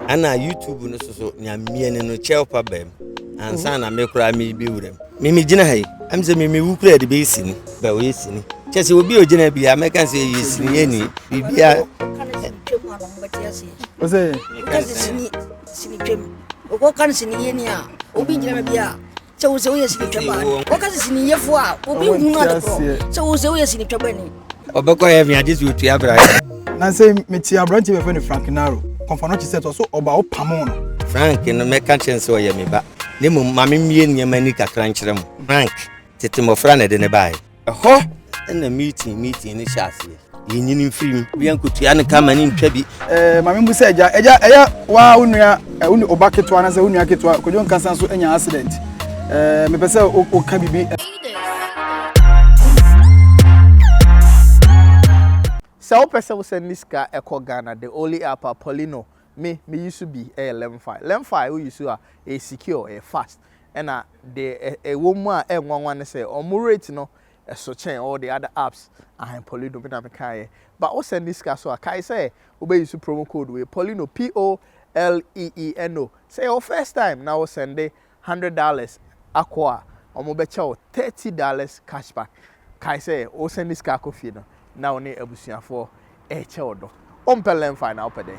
Ana YouTube no soso nya mieni no kyɛw pa bɛm ansa na me koraa me bi wuram. Me me gyina ha yi, am sɛ me me wu kura de bɛyɛ sini, bɛ wɔyɛ sini. Kyɛ sɛ obi a ogyina bi a mɛka sɛ yɛ sini yɛ ni biribi a. Ɔsɛ. Sini sini twam. Ɔkɔ kan sini yɛ ni a obi gyina bi a. Sɛ wo sɛ woyɛ sini twɛ baa ni. Wɔka sɛ sini yɛfo a obi hu no ade korɔ. Sɛ wo sɛ woyɛ sini twɛ baa ni. Ɔbɛkɔ heaven agye sɛ otua bra. Na sɛ mete aberante bɛfɛ no Frank Naro. Kɔmfa no kyesɛ tɔ so ɔba wo pamo no. Frank no mɛka kyerɛ no sɛ ɔyɛ me ba. Na mmom ma me mmie nneɛma ni kakra nkyerɛ mo. Frank, tete mmɔfra na ɛde no baeɛ. Ɛhɔ na meeting meeting no hyɛ aseɛ. Yɛnyini mfiri mu. Bia nkotua no ka ma ne ntwa bi. Eh, maame mu sɛ agya, agya ɛyɛ waa wo nua, eh, wo ɔba ketewa na sɛ wo nua ketewa Kwadwo Nkasa nso anya accident. Eh, mepɛ sɛ woka biribi. Sɛ wopɛ sɛ wosɛn ne sika ɛkɔ Ghana, the only app a Paulino Me me use bi ɛyɛ lemfi lemfi wo use a ɛyɛ secure ɛyɛ fast ɛna deɛ ɛwɔ mu a ɛnwanwa ne sɛ ɔmo rate no ɛso kyɛn all the other apps ahan polino me na me kaa yɛ ba wo sɛn ne sika so a kae sɛ wo bɛ use promo code wei polino p o l e e n o sɛ yɛ wo first time na wo sɛn de hundred dollars akɔ a, wɔbɛkyɛ wo thirty dollars cash back. Kae sɛ, woresɛn ne sika akɔ fie no, na wo ne abusuafoɔ rekyɛ wo dɔ. Wompɛ LearnFi na wopɛ dɛn?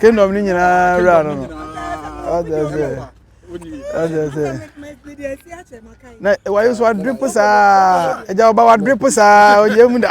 kingdom ni nyinaa wura no no ɔdɛ sɛ ɔdɛ sɛ na wayo so wadrip saa ɛgya ɔba wadrip saa ɔyɛ mu da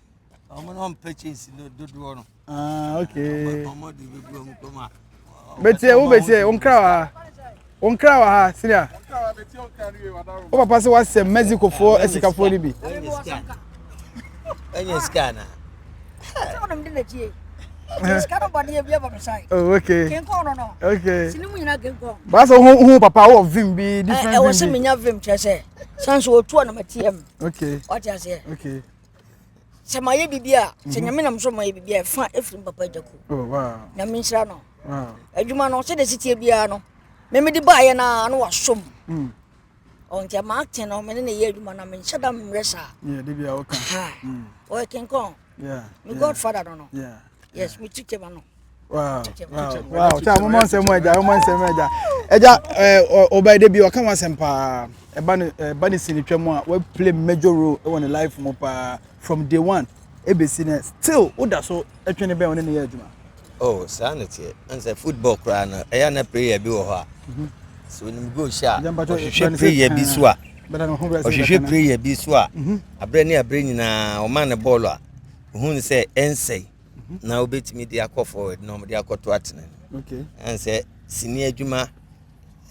ɔmo na ɔmpɛ kyɛnse no dodoɔ no ah, okay. ɔmo de bɛgu ɔmo kɔm a bɛtiɛ wo bɛtiɛ wo nkra wɔ ha wo nkra wɔ ha sinia wo papa sɛ woasɛ mexicofoɔ asikafoɔ no bi ɛnyɛ sika na Oh, okay. Okay. Basa hu hu papa wo vim bi different vim. Eh, eh, wose menya vim kyerɛ sɛ. Sanso otu na matiam. Okay. What you say? Okay. sɛ mayɛ biribi a sɛ mhm. nyame nam so mayɛ biribi a ɛfa ɛfiri m papa agya ku oh, na menhyira no adwuma no sɛdeɛ siteɛ biara no memede baayɛ no a na wasom mm. ɔnti oh, ama akten no mene ne yɛ adwuma no menhyɛ da mmerɛ saa ɔyɛ kenkɔn me godfather no no yes me tikɛma no kyɛ momɔ nsɛm agya momɔ nsɛm agya agya ɔbaa da bi ɔka ho asɛm paa ɛba no ɛba no si no twam a waplay major role wɔ ne life mu paa from day one ɛbɛsi no still woda so ɛtwe ne bɛn ɔne ne yɛ adwuma oh saa no teɛ ɛnsɛ football koraa no ɛyɛ na prayer bi wɔ hɔ a mhm. so onim goal hyɛ a ɔhwehwɛ prayer bi so a ɔhwehwɛ prayer bi so a mhm. aberɛ ne aberɛ nyinaa ɔma ne bɔɔlo a ohun sɛ ɛnsɛe na wobɛtumi de akɔ forward na wɔde akɔto atena no okay. ɛn sɛ sini adwuma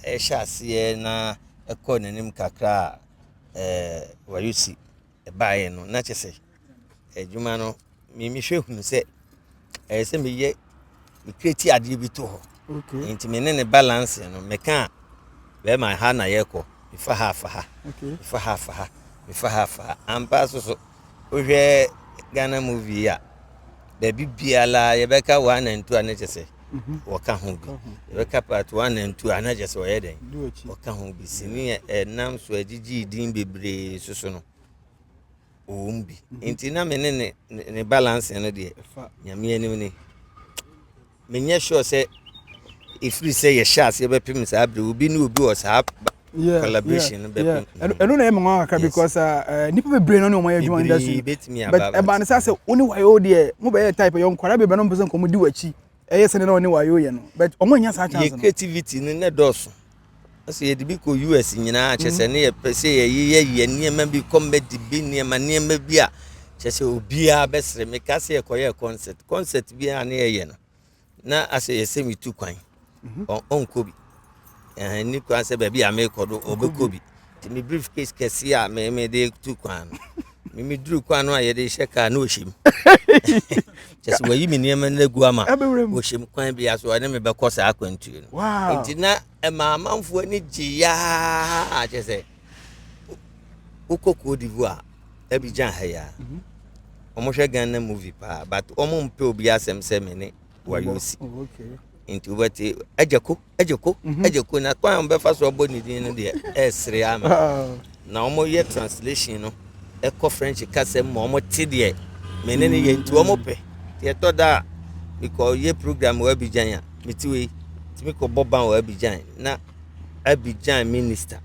ɛhyɛ aseɛ na ɛkɔ n'anim kakra a eh, wɔyɛ si ɛbaeɛ no na kyɛ sɛ adwuma no mehwɛ hunu sɛ ɛyɛ sɛ meyɛ mekreti adeɛ bi to hɔ okay. nti me ne ne balance no meka a bɛrima ha na yɛkɔ mefa ha afa ha mefa ha afa ha mefa ha afa ha ampa so so Wohwɛ Ghana movie a, baabi biara yɛbɛka one and two a na kyɛ sɛ wɔka ho bi. Yɛbɛka part one and two a na kyɛ sɛ wɔyɛ dɛn? Wɔka ho bi. Sini a ɛnam so agyigye din bebree soso no, wɔwom bi. Nti na me ne ne balance no deɛ, nyame anim ni. Menyɛ sure sɛ ɛfiri sɛ yɛhyɛ aseɛ bɛpem saa berɛ obi ne obi wɔ saa collaboration no bɛpem ɛno na ɛma nwa kakra because uh, nnipa bebree no ne ɔma yɛ adwuma industry but ɛba no sɛ sɛ wo ne wayɛ deɛ mobɛyɛ type yɛ nkwadaa bebree no mpɛ sɛ nkɔmmɔdi w'akyi ɛyɛ sɛdeɛ na ɔne wayɛ yɛ no but ɔmo anya saa chance no creativity no ne dɔɔso Sɛ yɛde bi kɔ US nyinaa kyɛ sɛ ne yɛpɛ sɛ yɛyeyɛ yɛ nneɛma bi kɔ mmɛdi bi nneɛma nneɛma bi a kyɛ sɛ obiara bɛsere me ka sɛ yɛkɔyɛ concert concert bi a ne yɛyɛ no na asɛ yɛsɛ metu kwan mhm. ɔnkɔ bi ɛni kwan sɛ baabi a mekɔ do ɔbɛkɔ bi Nti me brief case kɛse a me me de tu kwan no me me duru kwan no a yɛde hyɛ kaa na ɔhyɛ mu kyɛ sɛ wayi me nneɛma no agu ama ɔhyɛ mu kwan bi aso ɛne me bɛkɔ saa akwantuo no nti na ɛma amanfoɔ ani gye yaa kyɛ sɛ wokɔ koo divu a ɛbi gyan ha yaa wɔhwɛ ghana movie paa but wɔn mpɛ obi asɛm sɛ me ne wayi wo si oh, nti wobɛte agya ko agya ko mhm. agya ko na kwan a wɔbɛfa so abɔ ne din no deɛ ɛresere ama ah. na wɔyɛ translation no ɛkɔ french kasa mu ma wɔte deɛ mene ne yɛ nti wɔpɛ nti ɛtɔ da a mekɔyɛ program wɔ abigyan a mete wei nti mekɔbɔ ban wɔ abigyan na abigyan minister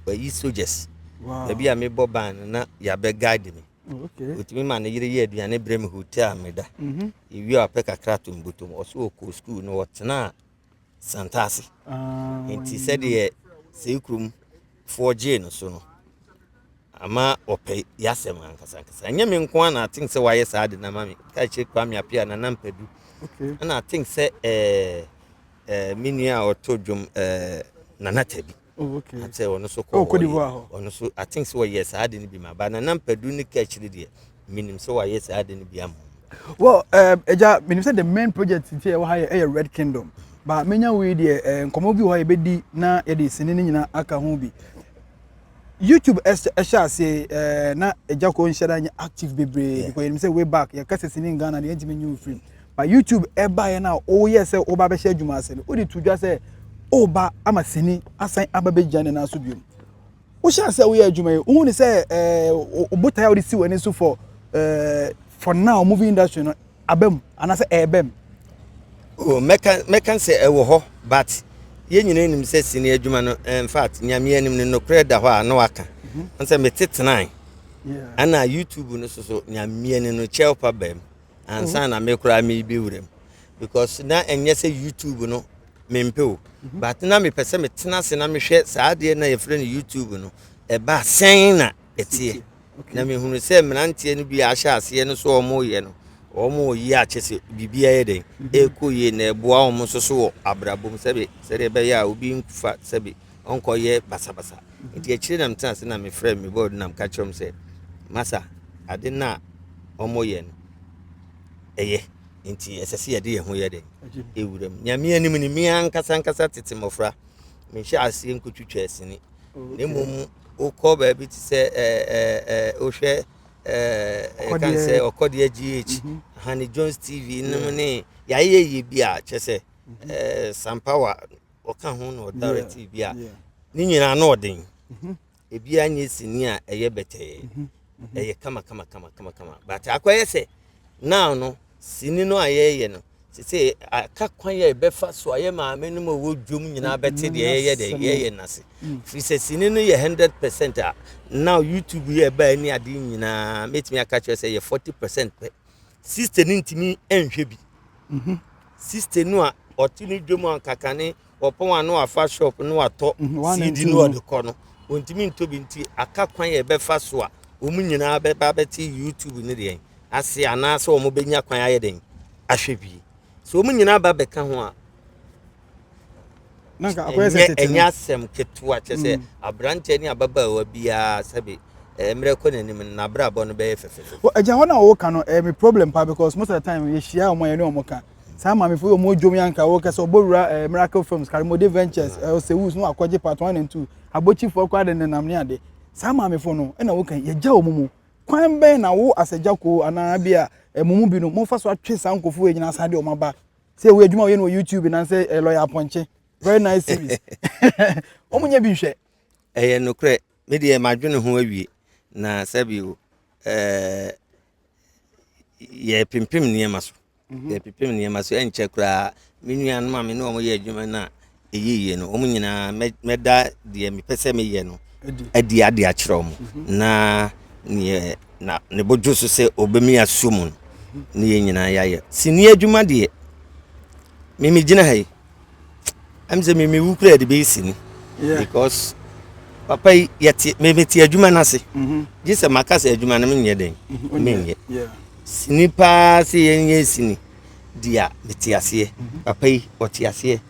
wayi soldiers baabi a mebɔ ban no na yɛabɛguide me ɔtumi ma ne yere yɛ aduane berɛ me hotel me da mhm. ɛwie a ɔpɛ kakra to mbotom ɔsɛ ɔkɔ skuul no ɔtenaa santa ase ah, nti sɛdeɛ sei kurom foɔ gyee no so no ama ɔpɛ yɛasɛm ankasankasa ɛnyɛ me nko a na atink sɛ wayɛ saa de nama me ka kyerɛ kwame apia nana mpadu ɛna atink sɛ eh, eh, me nua a ɔto dwom eh, nana tabi Oh, okay. Ate ɔno nso kɔ hɔ yɛ. Ɔno nso I think sɛ wɔyɛ saa ade no bi ma ba na nam padu ne ka akyiri deɛ menim sɛ wɔayɛ saa ade no bi ama Well, ɛgya menim sɛ the main project nti ɛwɔ ha yɛ ɛyɛ Red Kingdom ba menya wei deɛ eh, nkɔmmɔ bi wɔ hɔ yɛbɛdi na yɛde sini no nyinaa aka ho bi youtube ɛhyɛ aseɛ eh, na ɛgya kɔ nhyɛ da nyɛ active bebree because yɛnim sɛ way back yɛka sɛ sini in Ghana deɛ ɛntumi nyi wo firim Ma YouTube baeɛ no a woyɛɛ sɛ woba abɛhyɛ adwuma ase no, wode to dwa sɛ woba ama sini asan aba bɛgyina ne nan so bio. Wohyɛɛ sɛ woyɛ adwuma yi, wohu ne sɛ ɛɛ botae a wode si w'ani so for ɛɛ for now movie industry no aba mu anaasɛ ɛreba mu. Oh, mɛka mɛka sɛ ɛwɔ hɔ but yɛn nyinaa nim sɛ sini adwuma no in fact nyame anim no nokorɛ da hɔ a na waka mm-hmm. sɛ mete tenae ɛna youtube no so so nyame anim no kyɛw pa baa mu ansa na me koraa mebe wura mu because na ɛnyɛ sɛ youtube no mempɛ o mhm. but na mepɛ sɛ metena ase na mehwɛ saa adeɛ na yɛfrɛ no youtube no ɛba sɛn na ɛteɛ na mehunu sɛ mmeranteɛ no bi ahyɛ aseɛ no so wɔyɛ no wɔn yi akyɛ sɛ biribiara yɛ dɛn mhm. ɛkɔ yie na ɛboa wɔn nso so wɔ abrabɔ mu sɛbe sɛdeɛ ɛbɛyɛ a obi nfa sɛbe ɔnkɔyɛ basabasa nti akyire na metena ase na mefrɛ me board na meka kyerɛ wɔn sɛ masa ade no a wɔyɛ no ɛyɛ nti ɛsɛ sɛ yɛde yɛn ho yɛ dɛn ɛwura mu nyame anim ne me ankasa ankasa tete mmɔfra menhyɛ aseɛ nkɔtwitwa asini na mmom wokɔ baabi te sɛ wohwɛ ɛkan sɛ ɔkɔdeɛ gh hane jones tv nom ne yɛayɛ yɛ bi a kyɛ sɛ sampower ɔka ho na ɔdarete bi a ne nyinaa no ɔden mhm. ebiara nyɛ sini a ɛyɛ bɛtɛɛ mhm. Mhm. ɛyɛ kama kama kama kama kama but akɔyɛ sɛ now no sini no a yɛyɛ no sese aka kwan yɛ ɛbɛfa so a yɛ maame no ma ɛwɔ dwom nyinaa bɛte deɛ yɛyɛ deɛ yɛyɛ nase mm. firi sɛ sini no yɛ hundred percent a now youtube yɛ ɛbaa ne adeɛ nyinaa mɛtumi aka kyerɛ sɛ yɛ forty percent pɛ Sister no ntumi nhwɛ bi. Mhm. Sister no a ɔte ne dwom a kakane ɔpɔn a no afa shop no atɔ CD mhm, no ɔde kɔ no. Ontumi ntɔ bi nti aka kwan yɛ bɛfa so a wɔn nyinaa bɛba bɛte YouTube no deɛ ase anaasɛ wɔn bɛnya kwan ayɛ den ahwɛ bi. So wɔn nyinaa ba bɛka ho a na nka akɔyɛ sɛ tete ɛnyɛ asɛm ketewa kyɛ sɛ mm. aberanteɛ ne ababaawa biara sɛbe eh, mmerɛ kɔ n'anim no n'abrabɔ no bɛyɛ fɛfɛfɛ agya hɔ no a wɔwoka no ɛyɛ eh, me problem pa because most of the time yɛhyia ɔmo yɛne ɔmo ka saa maamefo yɛ ɔmo odwom yɛ anka wɔkɛ sɛ ɔbɔwura eh, miracle films karimode ventures ɔsɛwus na wakɔgye part one and two abɔkyifoɔ koraa de nenam ne ade saa maamefo no ɛna woka yɛgya ɔmo mu kwan bɛn na wo asɛgya koo anaa bi a ɛmo mu bi no mofa so atwe saa nkɔfoɔ yɛ nyinaa saa de ɔmo aba sɛ ɛwɔ adwuma ɔyɛ no wɔ youtube nansɛ eh, lɔya apɔnkye very nice series wɔn nyɛ bi nhwɛ. ɛyɛ nokorɛ me deɛ madwene ho awie na sɛbio ɛɛ yɛ pimpim nneɛma so mhm. yɛ pimpim nneɛma so ɛnkyɛ koraa me nuanom a me ne wɔn yɛ adwuma no a ɛyɛ yie no wɔn nyinaa mɛda deɛ mepɛ sɛ meyɛ no adi ade akyerɛ wɔn mhm. na neɛ na ne bodwo so sɛ ɔbɛmi aso mu no ne yɛn nyinaa yɛayɛ sini adwuma deɛ mimi gyina ha yi ɛm sɛ mimi wu kura de bɛyɛ sini because papa yi yɛte mimi te adwuma no ase mhm. gye sɛ maka sɛ adwuma no menyɛ dɛn mhm. menyɛ sini paa sɛ yɛnyɛ sini deɛ mete aseɛ papa yi ɔte aseɛ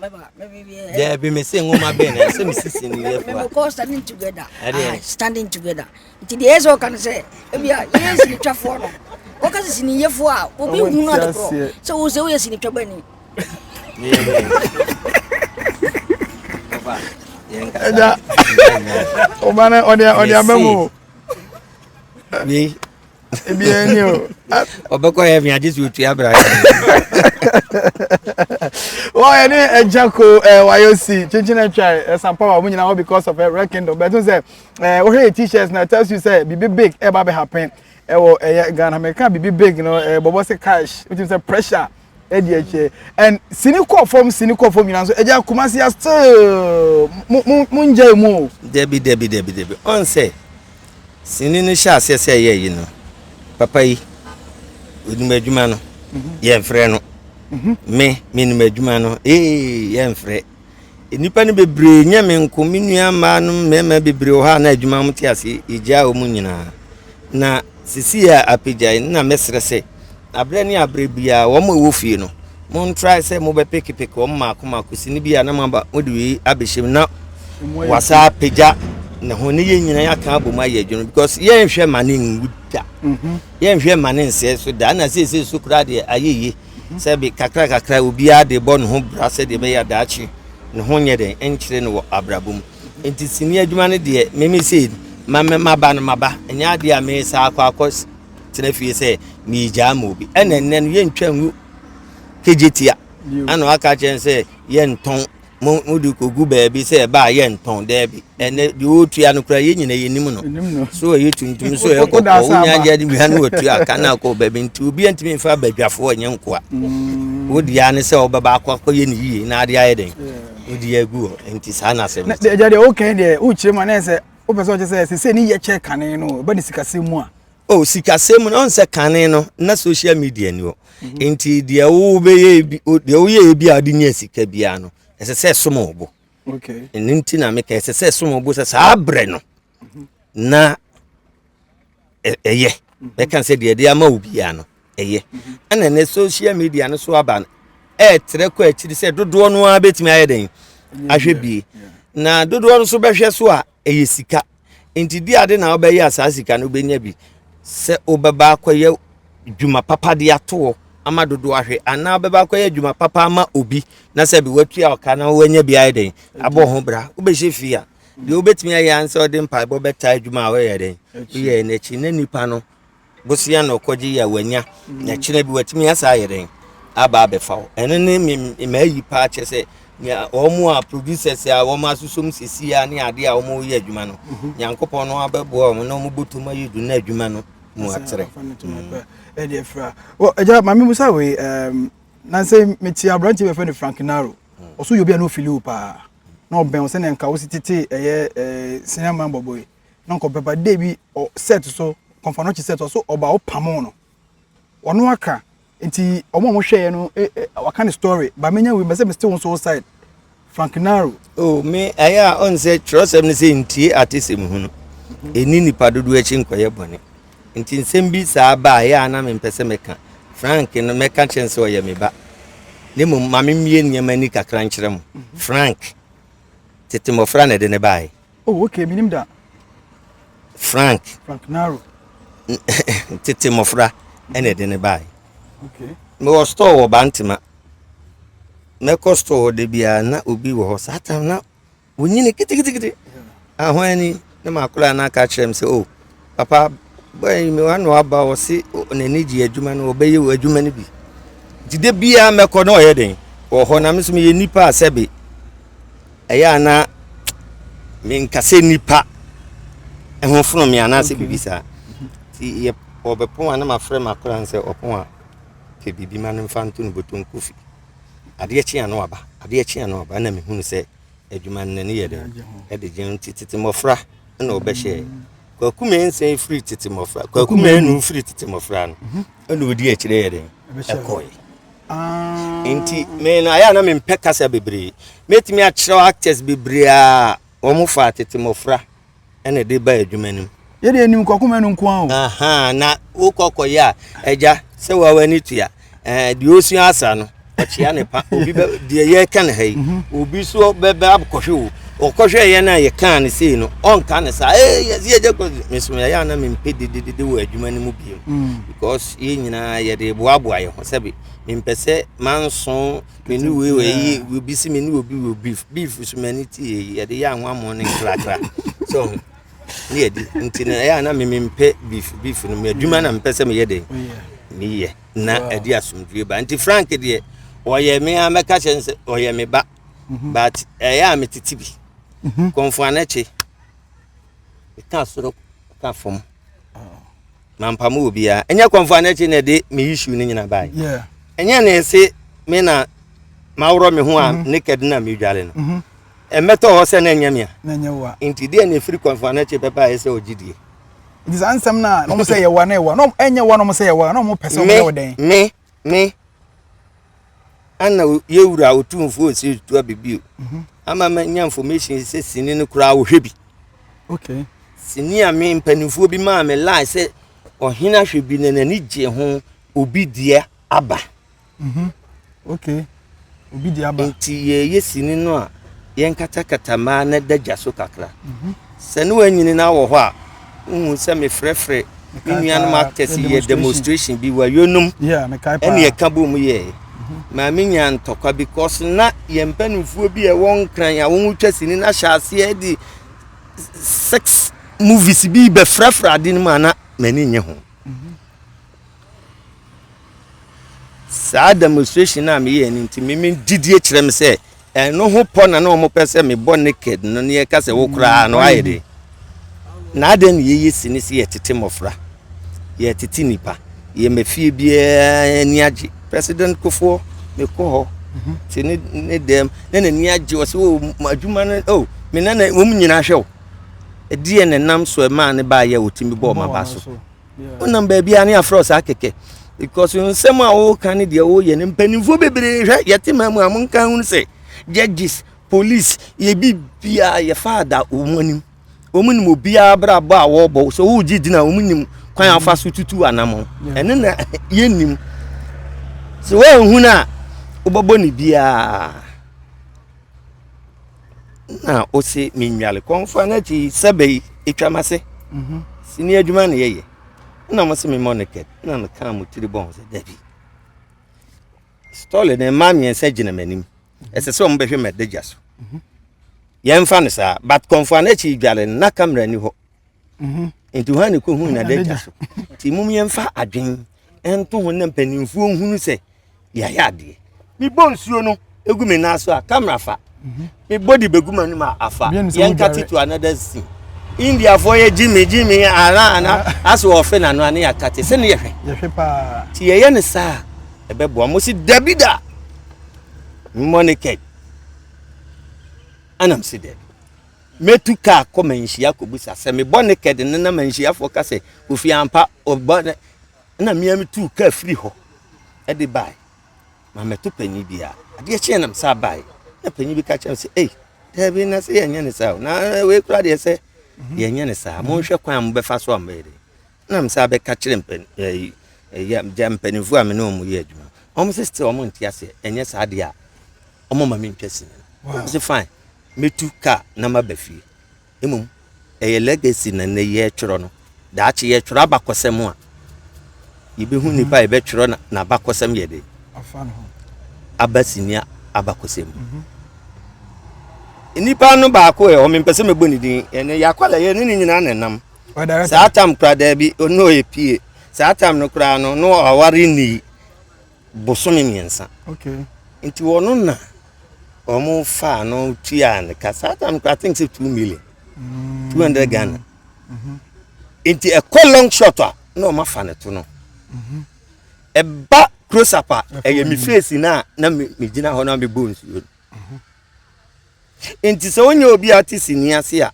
daabi me se nwoma bɛn na ɛsɛ mesisi no yɛ fua standing together ah, standing together nti deɛ ɛsɛ ɔka no sɛ ebia yɛyɛ sinitwafoɔ no wɔka sɛ siniyɛfoɔ a obi hu no ade korɔ sɛ wo sɛ woyɛ sinitwa bani ɛda ɔba no ɔde aba mu ebi ɛni o. ɔbɛkɔ heaven agye sɛ otua bra wɔn ɛne ɛgya ko ɛɛ wayɛ si kyinkyin atwa ɛsan power wɔn nyinaa hɔ because of ɛrɛ kingdom bɛtun sɛ ɛɛ wɔhwɛ yɛ t-shirts na tells you sɛ bibi big ɛba bɛ happen ɛwɔ ɛyɛ ghana mɛka bibi big no ɛɛ bɔbɔ sɛ cash wotu sɛ pressure. ɛdi akyire and sini kɔ fam sini kɔ fam nyinaa nso ɛgya kumasi ya still mo mo mo ngya emu o. dabi dabi dabi dabi ɔn sɛ sini no hyɛ aseɛ sɛ ɛyɛ yi no papa yi onim adwuma no mhm. yɛn frɛ no mhm. me me nim adwuma no ee yɛn frɛ. Nnipa no bebree, nyɛ me nko, me nua mmaa no mmarima bebree wɔ hɔ a na adwuma wɔn te ase, yɛgyaa wɔn nyinaa. Na sisi a apagyae na mɛsrɛ sɛ, aberɛ ne aberɛ biara wɔn a ɛwɔ fie no, montrae sɛ mobɛpekepeke wɔn mmaako mmaako si no bi a na moaba mode wei abɛhyɛm na wasa apagya ne ho ne yɛn nyinaa yɛaka abɔ mu ayɛ adwuma because yɛnhwɛ ma ne nwu da mhm. yɛnhwɛ ma ne nsɛe so da na seesei so koraa deɛ ayɛ yie Sɛbe kakrakakra obiara de rebɔ ne ho bra sɛdeɛ ɛbɛyɛ a daakye ne ho nyɛ dɛn nkyere no wɔ abrabɔ mu. Enti sini adwuma no deɛ meme sei ma me maba no maba, ɛnyɛ adeɛ a me saa akɔ akɔ tena fie sɛ meregyaa ma obi. Ɛna ɛnnɛ no yɛntwa ngu kegyetia, ɛna waka kyerɛ sɛ yɛntɔn. mo mode kɔgu baabi sɛ ɛba a yɛntɔn daabi ɛnɛ deɛ ɔretua no koraa yɛn nyina yɛnim no so ɛyɛ tuntum so ɛyɛ kɔkɔɔ wonya agya de wia no wɔtua ka no akɔ baabi nti obia ntumi mfa badwafoɔ ɛnyɛ nkoa mm. wodeɛ ne sɛ wobɛba akɔ akɔyɛ no yie na adeɛ ayɛ dɛn wodi agu hɔ nti saa na asɛm agya deɛ wokan deɛ wokyerɛ mu a na ɛsɛ wopɛ sɛ ɔkyɛ sɛ ɛsɛ sɛ ne yɛkyɛ kane no ɛba ne sikasɛm mu a o sikasɛm mu na ɔn sɛ kane no na social media ni hɔ mhm. nti deɛ wobɛyɛ bi deɛ woyɛ bi a wode nya sika biara no ɛsɛ sɛ som wo bo ɛno nti na meka ɛsɛ sɛ som wo bo sɛ saa berɛ no mhm. na ɛyɛ mhm. bɛka sɛ deɛ ɛde ama wo biara no ɛyɛ ɛna ɛnɛ social media no so aba no ɛɛtrɛ kɔ akyiri sɛ dodoɔ no ara bɛtumi ayɛ dɛn ahwɛ bie na dodoɔ no so bɛhwɛ so a ɛyɛ sika nti di ade na wobɛyɛ a saa sika no wobɛnya bi sɛ wobɛba akɔyɛ dwuma papa de atoɔ ama dodoɔ ahwɛ anaa wobɛba akɔyɛ dwuma papa ama obi na sɛ bi watua ɔka na woanya bi ayɛ dɛn abɔ ho bra wobɛhyɛ fie a deɛ wobɛtumi ayɛ ansɛ wode mpaebɔ bɛtaa adwuma a woyɛ dɛn woyɛ n'akyi na nipa no Bosea na ɔkɔgye yi a wanya mm. na kyerɛ bi watumi asa ayɛ dɛn aba abɛfa wo ɛno ne maayi paa kyɛ sɛ wɔn a producers a wɔn asosom sisi a ne adeɛ a wɔn reyɛ adwuma no mhm. nyankopɔn no abɛboa wɔn na wɔn bɔtɔm ayɛ du na adwuma no mu atrɛ. ɛgya maame musa wei nansɛ mete aberante bɛfɛ no frank naro ɔso yɛ obi a na ɔfili wo paa na ɔbɛn wo sɛnea nka wo si tete ɛyɛ sinema bɔbɔ yi na nka ɔbɛba dɛ bi ɔ set so kɔnfanɔkye set ɔso ɔba ɔpamoo no ɔno aka nti ɔmo a ɔmo hwɛɛ no e e waka ne story ba menya wei mɛsɛ me still nso side frank naro. o oh, me ɛyɛ a ɔn sɛ twerɛsɛm no sɛ ntie atesɛm hunu ɛni nipa dodoɔ akyi nkɔyɛ bɔne nti nsɛm bi saa ba a ɛyɛ a na mempɛ sɛ mɛka frank no mɛka kyerɛ no sɛ ɔyɛ me ba ne mmom ma memmie nneɛma ni kakra nkyerɛ mo frank tete mmɔfra na ɛde ne baeɛ Oh okay, menim da. Frank. Frank Naro. Tete mmɔfra ɛna ɛde ne bae. Okay. Mewɔ store wɔ Bantama. Mɛkɔ store hɔ da biara na obi wɔ hɔ saa tam na wonyini kitikitikiti. Ahoa ni na makora na aka kyerɛ m sɛ o. Oh, Papa, bɔyi mi wa na waba ɔsi n'ani gye adwuma no ɔbɛyɛ adwuma no bi nti da biara mɛkɔ na ɔyɛ den wɔ hɔ na me nso meyɛ nipa a sɛbe ɛyɛ a na menkasɛ nipa ho fono me anaasɛ biribi saa nti yɛ ɔbɛpon a na mafrɛ makora n sɛ ɔpon a fɛ biribi ma no mfa nto no bɔtɔ nkofi adeɛ kye a na waba adeɛ kye a na waba na mehunu sɛ adwuma no n'ani yɛ den de gye ho nti tete mmɔfra na wɔbɛhyɛɛ kwaku mmiɛnsa firi tete mmɔfra kwaku mmienu firi tete mmɔfra no mhm. ɛna ɔdi akyire yɛ den ɛkɔe ah. nti me no ayɛ a na mempɛ kasa bebree mɛtumi akyerɛw actors bebree a wɔn fa tete mmɔfra ɛna ɛde ba adwuma no mu. yɛde anim kɔkoma no nko ara o. na wokɔ kɔyɛ a agya sɛ wawa ne tua deɛ ɔsua asa no ɔkyea ne pa obi bɛ deɛ yɛka no ha yi mhm. obi so bɛbɛ akɔhwɛ o ɔkɔhwɛ yɛn no a yɛkaa no sei no ɔnka no saa ee yɛsi agya kɔ mesom yɛyɛ ana mempɛ dededede wɔ adwuma no mu bio mm. because yɛn nyinaa yɛde boaboa yɛn ho sɛbi mempɛ sɛ manso Me ne wei wei yi obi si me ne obi wɔ beef beef so ma ne ti yɛ yɛde yɛ anwammo ne nkrakra so ne yɛde nti na ɛyɛ ana meme mpɛ beef beef no me adwuma na mpɛ sɛ meyɛ dɛ meyɛ na ɛde asomdue ba nti frank deɛ ɔyɛ me a mɛka kyɛ sɛ ɔyɛ me ba mhm. but ɛyɛ a metete bi mhm. kɔnfoanakye meka soro ka fam mampa mu obiara ɛnyɛ kɔnfɔ a n'akyi na ɛde me issue ne nyina bae ɛnyɛ na ɛse me na maworɔ me ho a mhm. naked na medwale no mhm. ɛmmɛtɔ hɔ sɛ na ɛnyɛ me a nti deɛ na ɛfiri kɔnfɔ a n'akyi pɛpɛ a ɛsɛ ɔgye die nti saa nsɛm no a na ɔmo sɛ yɛwa na ɛwa na ɛnyɛ wa na ɔmo sɛ yɛwa na ɔmo pɛ sɛ ɔmo yɛ wo dɛn me me ana yɛwura ɔtumfoɔ ɔsiri to abibio mhm. ama manya information sɛ sini no koraa wɔhwɛ bi okay. sini a me mpanimfoɔ bi maa me lie sɛ ɔhene ahwɛ bi na n'ani gye ho obi deɛ aba mhm. okay. obi de aba. Enti yɛyɛ sini no a, yɛnkatakata ma na ɛda gya so kakra. Mhm. Sɛ ne wanyini na awɔ hɔ a, wohu sɛ mefrɛfrɛ me nuanom actors yɛ demonstration bi wa yonum ɛne yɛka bɔ mu yɛɛ mhm. ma menya ntɔkwa because na yɛn mpanimfoɔ bi a ɛwɔ nkran a wɔtwa sini no ahyɛ aseɛ de sex movies bi bɛfrɛfrɛ ade no mu a na m'ani nye ho mhm. Saa demonstration a meyɛɛ no nti, me gyidie kyerɛ me sɛ ɛno ho pɔ na na wɔpɛ sɛ mebɔ naked no ne yɛka sɛ wo koraa no ayɛ de. Na adɛn ne yɛyɛ si ne sɛ yɛtete mmɔfra, yɛtete nnipa, yɛma fie biara ani agye. President Kofoɔ, mekɔ hɔ te ne ne dɛm na n'ani agye ɔsɛ o oh, adwuma no o oh, me nana wɔn nyinaa hwɛ o. Ɛdeɛ na nam so ɛmaa ne baayɛ a ɔtumi bɔɔ ma ba so. wonam baabi a ne afrɛ saa kɛkɛ because nsɛm a woka ne deɛ woyɛ no mpanimfoɔ bebree hwɛ yɛte ma mu a monka hunu sɛ judges police yɛbi biaa yɛfa ada wɔn anim wɔn nim obiara brabɔ a wɔrebɔ sɛ wogye gyina wɔn nim kwan afa so tutu anamɔ ɛno na yɛnnim sɛ woanhunu a wobɛbɔ ne biaa na ɔsi mi nnwale kɔnfa n'akyi sɛbɛ yi etwa ma se mhm. sini adwuma na yɛyɛ na mo se mi mɔ ne kɛt na no kan mo tiri bɔn sɛ dabi stɔle ne mmaa mmiɛnsa gyina m'anim mhm. ɛsɛ sɛ wɔn bɛhwɛ m'adagya so mhm. yɛn fa no saa but kɔnfa n'akyi dwale na kamera ni hɔ Mhm. nti hɔ a ne kɔhuu nadagya so nti mom yɛmfa adwen ɛnto ho na mpanimfoɔ nhunu sɛ yɛayɛ adeɛ mebɔ nsuo no ɛgu me nan so a kamera fa mhm. mebɔ de bɛgu m'anim a afa yɛnka tito another scene indiafoɔ yɛ gyimi gyimi ara ana ah. asɛ wɔfe nano ane yɛakate sɛ ne yɛhwɛ nti yɛyɛ ne saa ɛbɛboa mo se dabi da mmɔ ne kɛd anam se dabi Metu kaa kɔ manhyia kɔbisa sɛ me bɔ naked no na manhyiafoɔ ka sɛ Kofi ampa ɔbɔ ne na mea metuu kaa firi hɔ de bae ma mɛto panyin bi a adeɛ kyeɛ nam saa bae na panyin bi ka kyerɛ me sɛ ei daabi na sɛ yɛnyɛ ne saa na wei kora deɛ sɛ yɛnyɛ ne saa monhwɛ kwan a mobɛfa so a mobɛyɛ dɛ na mesan abɛka kyerɛ mpan ɛyi ɛyɛ gya mpanimfoɔ a me ne wɔn yɛ adwuma wɔn sɛ still wɔn nte aseɛ ɛnyɛ saa deɛ a wɔn ma me ntwa sini wɔn sɛ fine metu kaa na ma ba fie mmom ɛyɛ legacy na nnɛ yɛ twerɛ no daakye yɛ twerɛ abakɔsɛm a yɛbɛhu nipa a yɛbɛtwerɛ na abakɔsɛm yɛ de aba sini abakɔsɛm mu. Mm -hmm. nipa no baako ɛ ɔmempɛ sɛ mɛbɔ ne din ɛnɛ yɛakɔ la yɛ ne ne nyinaa na ɛnam Saa tam koraa daabi, ɔne ɔyɛ pie. Saa tam no koraa no, no aware nnii bosome mmiɛnsa. Nti wɔn na wɔn faa no tuaa no ka. Saa tam koraa, I think sɛ two million, mm. two hundred Ghana. Mm-hmm. Nti ɛkɔ long shot a, na wɔn afa no to no. Mm-hmm. Ɛba close up a, ɛyɛ me face na na me gyina hɔ na me bɔ nsuo. Mm-hmm. Enti sɛ wonyɛ obi a ɔte sini ase a,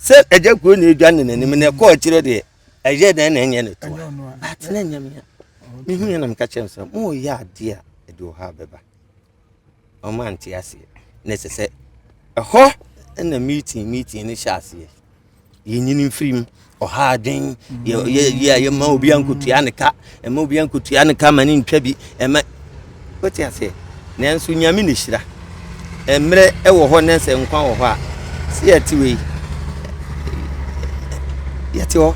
sɛ agya kuo na edwa ne n'anim na ɛkɔ akyire deɛ, ɛyɛ dɛn na ɛnyɛ ne toa? But na ɛnyɛ mea. Mehu yɛ na meka kyerɛ no sɛ, moyɛ adeɛ a ɛde ɔhaw bɛba. Ɔmo ante aseɛ. Na ɛsɛ sɛ ɛhɔ na meeting meeting no hyɛ aseɛ. yɛnyini mfiri mu ɔha adwen yɛyɛ a yɛma obi ankotua ne ka ɛma obi ankotua ne ka ma ne ntwa bi ɛma wote aseɛ nanso nyame ne hyira mmerɛ ɛwɔ hɔ ne sɛ nkwa wɔ hɔ a sɛ yɛte wei yɛte hɔ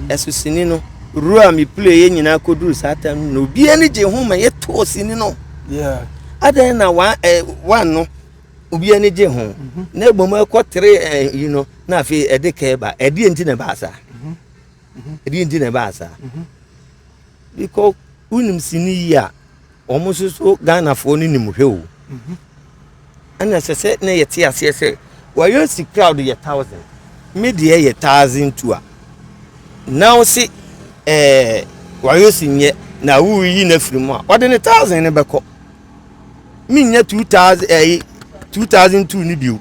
ɛso sini no ru a mepule yɛ nyinaa kɔduru saa tam no na obiara ne gye ho ma yɛtoo sini no adɛn na wa eh, no Obi ani gye ho, na mmom ɛkɔtere yi no, na afei ɛde kɛɛ ba. Ɛdeɛ nti na ɛbaa saa? Ɛdeɛ nti na ɛbaa saa? Because wonim sini yi a, wɔn nso so Ghanafoɔ no nim hwɛ o. Ɛna ɛsɛ sɛ na yɛte aseɛ sɛ wɔyɛ si crowd yɛ thousand, me deɛ yɛ thousand two a. Na wo se ɛɛ wɔyɛ si nyɛ na woreyi no afiri mu a, wɔde ne thousand no bɛkɔ. menyɛ two thousand ɛyi two thousand two no bio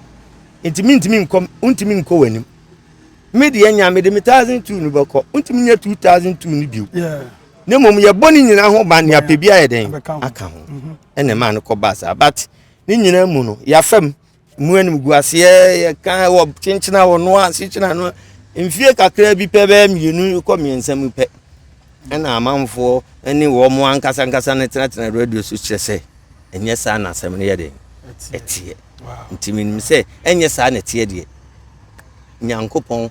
nti mentumi nkɔ ntumi nkɔ wɔn anim me deɛ nya mede me thousand two no bɛkɔ ntumi nyɛ two thousand two no bio ne mmom yɛbɔ ne nyinaa ho ban ne apɛ bi ayɛ dɛn aka ho ɛna ɛmaa no kɔ baa saa but ne nyinaa mu no yɛafam mu animguaseɛ yɛka wɔ kyenkyena wɔ no a sekyena no mfie kakra bi pɛ bɛyɛ mmienu kɔ mmiɛnsa mu pɛ ɛna amanfoɔ ne wɔn mo ankasa ankasa no tenatena radio so kyerɛ sɛ ɛnyɛ saa na asɛm no yɛ den ɛteɛ nti menim sɛ ɛnyɛ saa na ɛteɛ deɛ nyankopɔn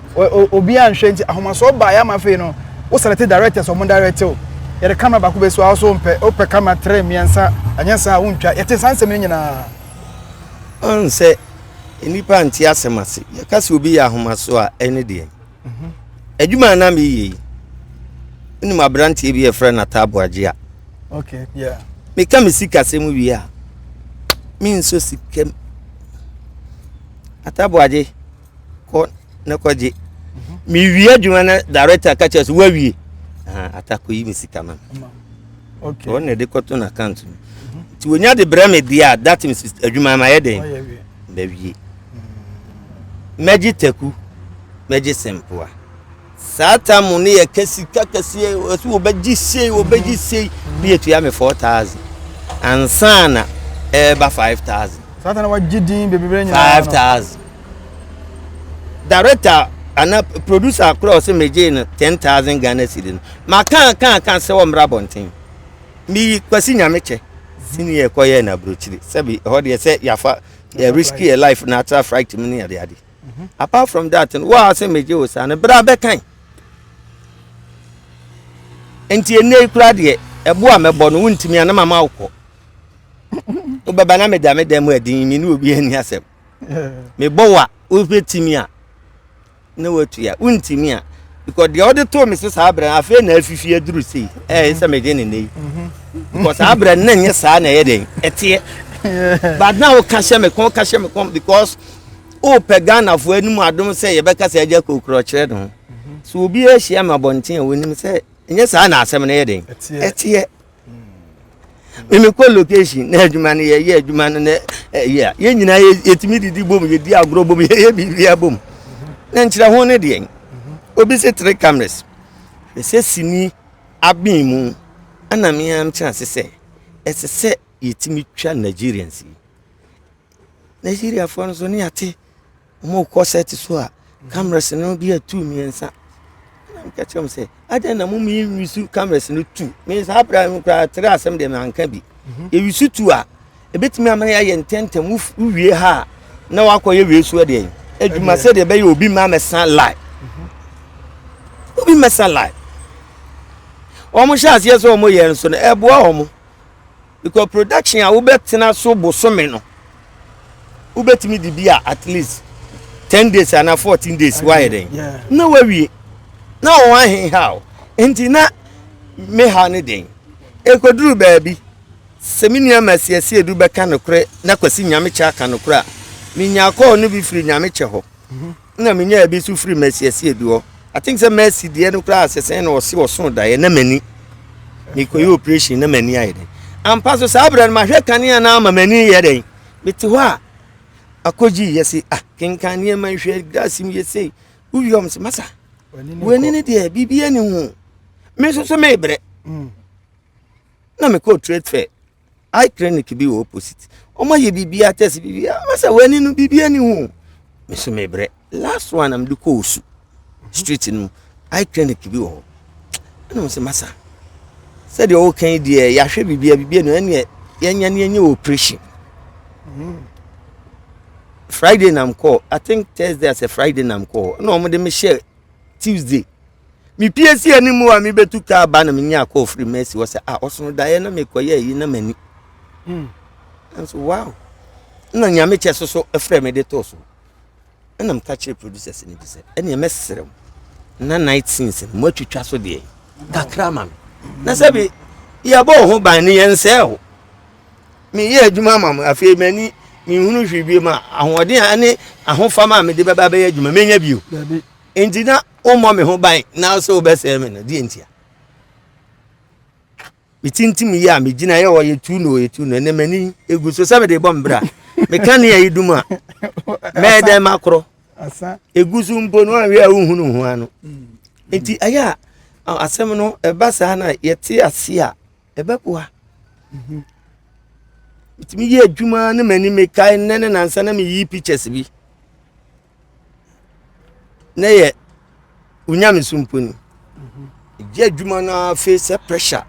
Obiaa nhwɛ nti ahomasoɔ baeɛ ama afei no wo select directors ɔmo direct wo yɛde camera baako bɛsi hɔ a wo so wompɛ wopɛ camera three mmiɛnsa anyɛ saa a wontwa yɛte saa nsɛm no nyinaa. Woahu sɛ nnipa nte asɛm ase yɛka sɛ obi yɛ ahomasoɔ a ɛne deɛn mhm. adwuma a na meyɛ yi wonim aberanteɛ bi yɛfrɛ no ataaboagye a okay, yeah. meka me sikasɛm wie a menso sikam ataaboagye kɔ na kɔgye mewie adwuma na director ka kyerɛ so woawie atakɔ yi me sika ma ɔno na ɛde kɔto no account mu nti wɔnya de brɛ me deɛ a that means adwuma mayɛ dɛn mawie mɛgye taku mɛgye sempoa Saa tam no yɛ sika kɛseɛ, ɛsɛ wɔbɛgye sei wɔbɛgye sei ne yɛtua me four thousand ansa na ɛreba eh, five thousand. saa ta na wagye din bebree nyinaa five thousand. director ana producer korɔ ɔsɛ megyee no ten thousand ghana cedi no makaa kaa kaa sɛ wɔmmra abɔnten meyi kwasi nyame kyɛ sini yɛ kɔyɛ na aburokyire sɛbi ɛhɔ deɛ sɛ yafa yɛ risk yɛ life na atra fright mu ne adeade mhm. apart from that no waa sɛ megye wo saa no berɛ abɛkan nti ɛnɛ yi koraa deɛ ɛbo a mɛbɔ no wontumi a na mama wokɔ wobɛba na meda me dan mu adin me ne obi ani asɛm mebɔ wo a wobɛtumi a na woatua wontumi a because deɛ ɔde too me se saa berɛ no afei na afifi aduru sei ɛyɛ sɛ megye ne nɛ yi mhm. because saa berɛ no na nyɛ saa na ɛyɛ dɛn ɛteɛ but na woka hyɛ me kɔn woka hyɛ me kɔn because wopɛ ghanafoɔ anim adom sɛ yɛbɛka sɛ agya kokorɔ kyerɛ no mhm. sɛ obi ahyia ma abɔnten a wɔnim sɛ ɛnyɛ saa na asɛm no yɛ den ɛteɛ memekɔ location na adwuma no yɛyɛ adwuma no na ɛyɛ a yɛn nyinaa yɛtumi didi bom yɛdi agorɔ bom yɛyɛ biribia bom na nkyerɛ ho no deɛn obi se three cameras ɛsɛ sini aben mu ɛna meam kyerɛ ase sɛ ɛsɛ sɛ yɛtumi twa nigerians yi Na Siriafoɔ no nso ne yɛate wɔn rekɔ set so a cameras no bi atu mmiɛnsa. Na meka kyerɛ wɔn sɛ adɛn na mo mi wisu cameras no tu. Me saa abira no koraa tere asɛm deɛ manka bi. Mhm. Ewisu tu a ebetumi ama yɛayɛ ntɛntɛm wowie ha a na wakɔyɛ wei so deɛ adwuma sɛ deɛ ɛbɛyɛ obi ma mɛsa lie. Mhm. Obi mɛsa lie. Wɔn hyɛ aseɛ sɛ wɔn yɛ nso no ɛboa wɔn. Because production a wobɛtena so bosome no, wobɛtumi de bi a at least ten days ana fourteen days woayɛ dɛn na woawie na wɔn aheha o nti na me ha ne den ɛkɔduru baabi sɛ me nua ma asiesie du bɛka nokorɛ na kwasi nyamekyɛ aka nokorɛ a menya kɔɔ no bi firi nyamekyɛ hɔ na menyaa ebi nso firi Mercy Asie bi hɔ. I think sɛ Mercy deɛ no koraa sɛ sɛn na ɔse ɔsoo daeɛ na m'ani mekɔyɛ operation na m'ani ayɛ dɛn. Ampa so saa berɛ no mahwɛ kanea no ama m'ani yɛ dɛn. Mete hɔ a akɔgyi yɛ se ah kenkan nneɛma nhwɛ glass mu yɛ sei wowie ɔm se masa w'ani no deɛ biribi ani ho me nso so mebrɛ na mekɔɔ trade fair eye clinic bi wɔ opposite wɔn ayɛ biribiara test biribiara wɔn sɛ wɔn ani no biribiara ni ho me so me brɛ last one na me de kɔ osu street no mu eye clinic bi wɔ hɔ ɛna wɔn sɛ masa sɛdeɛ ɔɔka yi deɛ yɛahwɛ biribiara biribiara no ɛneɛ yɛnya ne yɛnyɛ operation mm. friday nam kɔ i think thursday asɛ friday nam kɔ na wɔn de me hyɛ tuesday. mepie si anim a mebetu ka aba na menya akɔ ofiri mu asi hɔ sɛ a ɔsono daeɛ na mekɔyɛ ayi na m'ani hmm. nso wow na nyame kyɛ so so ɛfrɛ me de too so ɛna meka kyerɛ producers no bi sɛ ɛneɛ mɛserɛ m na night scenes no moatwitwa so deɛ kakra ma me na sɛ bi yɛbɔɔ ho ban no yɛnsɛɛ ho meyɛ adwuma ma m afei m'ani mehunu hwee bio ma ahoɔden a ne ahofama a mede bɛba bɛyɛ adwuma menya bio enti na wommɔ me ho ban na sɛ wobɛsɛe me no deɛ ntia metintim yi a megyina yɛ ɔyɛ tu no ɔyɛ tu no ɛnɛ m'ani ɛgu so sɛ mede bɔ mbrɛ a meka ne ayi dum a mɛyɛ dɛn makorɔ ɛgu so mpo no anwɛ a wohunu ho ano nti ɛyɛ a asɛm no ɛba saa na yɛte ase a ɛbɛboa mhm. metumi yɛ adwuma ne m'ani mekae nnɛ ne nansa na meyi pictures bi na yɛ wo nyameso mpo ni ɛgye adwuma no ara fei sɛ pressure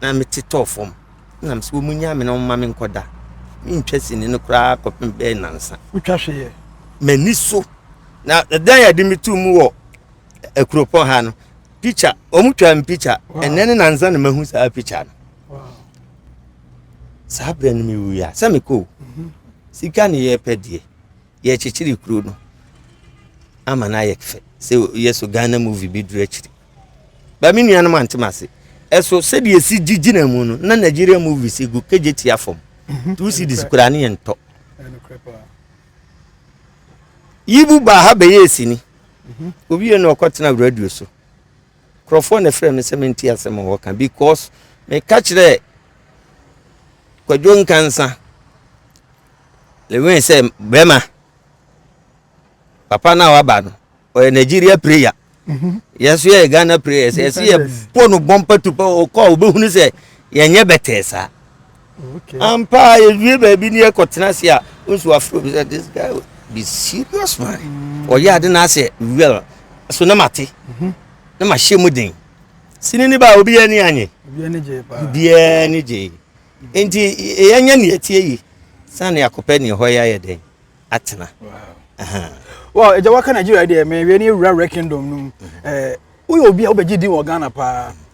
na mete tɔɔ fam na mesɛ wɔ mu nya me na ɔma me nkɔda mentwa sini no koraa kɔpem bɛɛ nansa wotwa hweyɛ m'ani so na ɛdan yɛde me to mu wɔ akuropɔn ha no picture wɔn twa me picture ɛnɛ ne nansa na mahu saa picture no saa berɛ no mewuiɛ a sɛ mekɔ sika ne yɛpɛ deɛ yɛkyekyere kuro no ama no ayɛ fɛ sɛ yɛ so ghana movie bi duru akyiri ba me nuanom antem ase ɛso sɛdeɛ ɛsi gyigyina mu no na nigeria movie si gu kagye tia fam mhm. two cities koraa ne yɛntɔ yibu baa ha bɛyɛ ɛsini mhm. obi yɛ no ɔkɔtena radio so Nkurɔfoɔ na ɛfrɛɛ me sɛ mentie asɛm a wɔka because meka kyerɛɛ Kwadwo Nkansa Lewin sɛ bɛrima papa no a waba no ɔyɛ Nigeria prayer mhm. yɛn so yɛyɛ Ghana prayer sɛ yɛsɛ yɛbɔ no bɔmpa tu pɛ ɔkɔ a wɔbɛhunu sɛ yɛnyɛ bɛtɛɛ saa Ampa yɛdue baabi ne yɛkɔtena ase a nso afro bi sɛ this guy be serious man mm. ɔyɛ ade na asɛ well so na mate mhm. na mahyɛ mu den sini ne ba obi yɛ ne anye obiara ne gye nti yɛnyɛ ne atie yi sane akɔpɛ ne ɛhɔ yɛ ayɛ dɛn atena well ɛgya waka nigeria deɛ mɛwie ne awura wura kingdom no mu mhm. eh, woyɛ obi a wobɛgye din wɔ ghana paa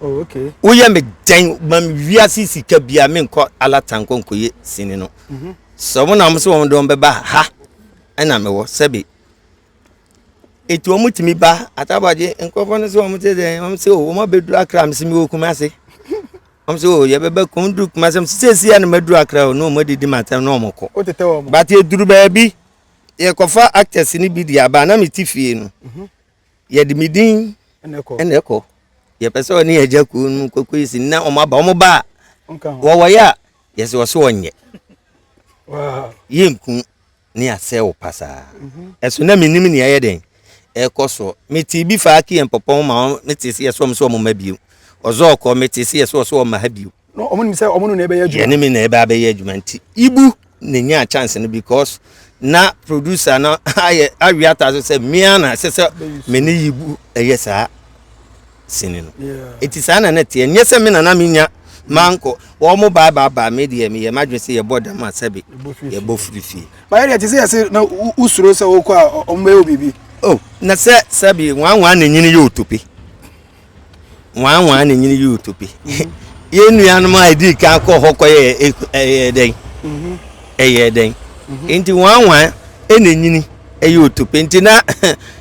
Oh, okay. Woyɛ me dɛn ma wiase sika bia menkɔ alata nkɔ nkɔyɛ sini no. Mhm. Sɛ wɔn na wɔn sɛ wɔn de wɔn bɛba ha ɛna mewɔ sɛbi. Eti wɔn tumi ba atabagye nkurɔfoɔ no sɛ wɔn te dɛn wɔn sɛ wɔn abɛduru akra me sɛ mewɔ kumase. Wɔn sɛ o yɛbɛbɛ kɔn duru kumase wɔn sɛ sɛsi a na mɛduru akra o na wɔn adidi ma atɛm na wɔn kɔ. O tete wɔn. But eduru baabi yɛkɔfa actors ni bi di aba na me ti fie no. Mhm. yɛde me din ɛna ɛkɔ yɛpɛ sɛ ɔne agya kuo no kɔkɔ yi si na ɔmo aba ɔmo ba a wɔwɔyɛ a yɛsɛ ɔso ɔnyɛ yɛnku ne asɛ wo pasaa mhm. ɛso na menim nea ɛyɛ dɛn ɛkɔ soɔ metee bi fa ake yɛn pɔpɔn ma mete sɛ yɛsɛ ɔm sɛ ɔmo ma bio ɔzɔ ɔkɔ mete sɛ yɛsɛ ɔsɛ ɔma ha bio No, ɔmo nim sɛ ɔmo no na ɛbɛyɛ adwuma. Yɛne me na ɛbɛ abɛyɛ adwuma nti ibu na nyaa chance no because na producer no ayɛ awi ata so sɛ mmea na ɛsɛ sɛ me ne ibu ɛyɛ saa sini no eti saa na na teɛ nyɛ sɛ me na na me nya manko wɔn mo baa baa baa me deɛ me yɛ madwe sɛ yɛbɔ dam a sɛbi yɛbɔ firi fie. bayɛ deɛ te sɛ yɛse na wosuro sɛ wokɔ a ɔmo bɛyɛ wo biribi. o oh, na sɛ sɛbi nwanwa na nyini yɛ otope. nwanwa na nyini yɛ otope mhm. yɛn nuanom a ɛdii kan kɔ hɔ kɔ yɛ ɛyɛ dɛn mhm. ɛyɛ dɛn mhm. nti nwanwa na nyini ɛyɛ otope nti na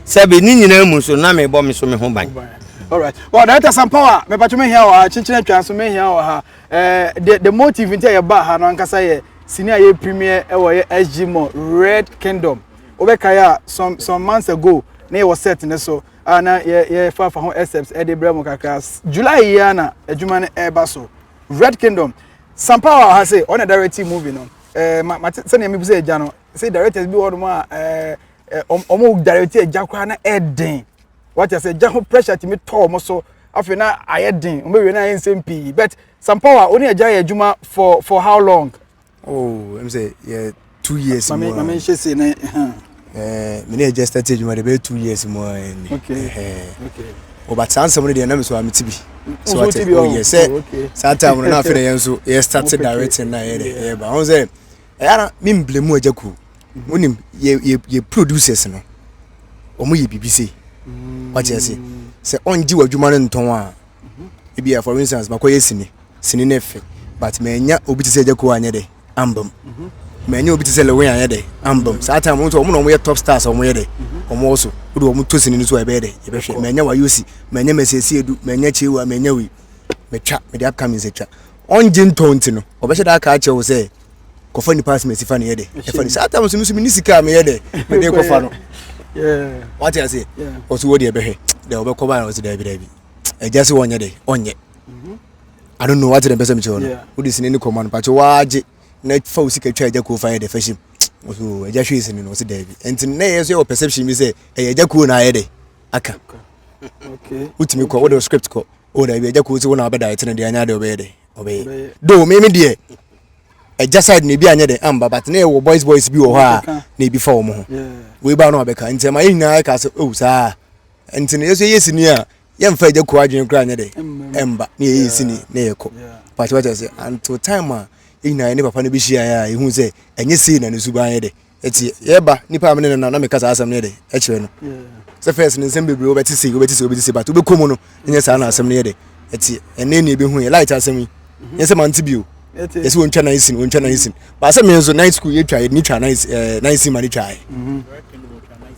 sɛbi ne nyinaa mu so na mebɔ me so me ho ban alright well director sampawa mepatwo mehia wɔ ha kyekyerɛ atwa so mehia wɔ ha eh, the, the motive nti a yɛba ha no ankasa yɛ sini a yɛ premier ɛwɔ yɛ sg mall red kingdom wobɛkae a some some months ago na yɛwɔ set ne so a na yɛfafa ho excerpts de brɛ mo kakra july yi ara na adwuma no ɛreba so red kingdom sampa wɔ ha sɛ ɔna directing movie no ɛɛ ma mate sɛnea mebu sɛ agya no sɛ directors bi wɔ hɔnom a ɛɛ wɔn director agya koraa na ɛden wɔte sɛ agya ho pressure tumi tɔ wɔn so afei na ayɛ den wɔn awie na ayɛ nsɛm pii but sampa wɔ a ɔne agya yɛ adwuma for for how long. Oh, I'm say yeah, two years mame, more. Mame nhyɛ se na huh. Eh, me ne just started adwuma de bɛyɛ two years mu ni. Okay. Eh. Okay. Oh, but saa nsɛm no deɛ na me so a mete bi. So what oh, oh yes. Sɛ oh, saa time no na afei na yɛn nso yɛ start directing na yɛ de yɛ ba. Ɔn sɛ ɛyɛ na me mble mu agya kuro. Wonim yɛ yɛ yɛ producers no. Wɔn yɛ biribi sei. Wɔte ase. Sɛ ɔngye wɔ adwuma no ntɔn a. ebia for instance makɔyɛ sini sini no fɛ but manya obi te sɛ agya kuo anyɛ dɛ ambam manya obi te sɛ lewen anyɛ dɛ ambam saa time wɔn nso wɔn na wɔn yɛ top stars wɔn yɛ dɛ wɔn wɔ so wode wɔn to sini no so a ɛbɛyɛ dɛ yɛbɛhwɛ manya wayosi manya masiesie edu manya kyewa manya wei metwa mede upcoming sɛ twa ɔngye ntɔ nti no ɔbɛhyɛ daa kaa kyɛw sɛ kɔfa nipa asem asifa no yɛ dɛ ɛfa no saa tam so no so mene sika a meyɛ dɛ mede kɔfa no wate aseɛ ɔso wɔ deɛ bɛhwɛ dɛ wɔbɛkɔ baa ɔse daabi daabi ɛgya sɛ wɔnyɛ dɛ ɔnyɛ mhm. I don't know wate dɛ mpɛ sɛ mekyerɛ no wode sini ne kɔma no pakyɛ woagye na fa wo sika twa agya kuo fa yɛ dɛ fahyim so agya hwee sini no ɔse daabi ɛnti na ɛyɛ so yɛwɔ perception bi sɛ ɛyɛ agya kuo na ayɛ dɛ aka wotumi kɔ wode script kɔ o daabi agya kuo sɛ wo na wabɛda ɛtene deɛ anyɛ dɛ ɔbɛyɛ dɛ ɔbɛyɛ do meme deɛ ɛgya side na ebi anyɛ dɛ amba but na ɛwɔ boys boys bi wɔ hɔ a na ebi fa wɔn ho wei ba no abɛka nti ɛma yɛ nyinaa ɛka sɛ o oh, saa nti no yɛsɛ yɛ sini a yɛmfa agya kuo adwene koraa nyɛ dɛ ɛmba ne yɛyɛ sini ne yɛkɔ pakyɛ wata sɛ until time a yɛn nyinaa ne papa no bɛhyiaeɛ a yɛhu sɛ ɛnyɛ sei na ne suban yɛ dɛ ɛti yɛba nipa a mene nana na meka saa asɛm no yɛ dɛ ɛkyerɛ no sɛ first no nsɛm bebree wobɛte sei wobɛte sei wobɛte sei but wobɛkɔ mu no ɛnyɛ saa na asɛm no yɛ dɛ ɛti ɛnɛ ne yɛbɛhu yɛ light asɛm yi nyɛ sɛ mante bio yɛsɛ wɔntwa nine sin wɔntwa nine sin baasa mi nso nine school yɛtwa yɛde ne twa nine ɛɛ nine sin ma ne twa yɛ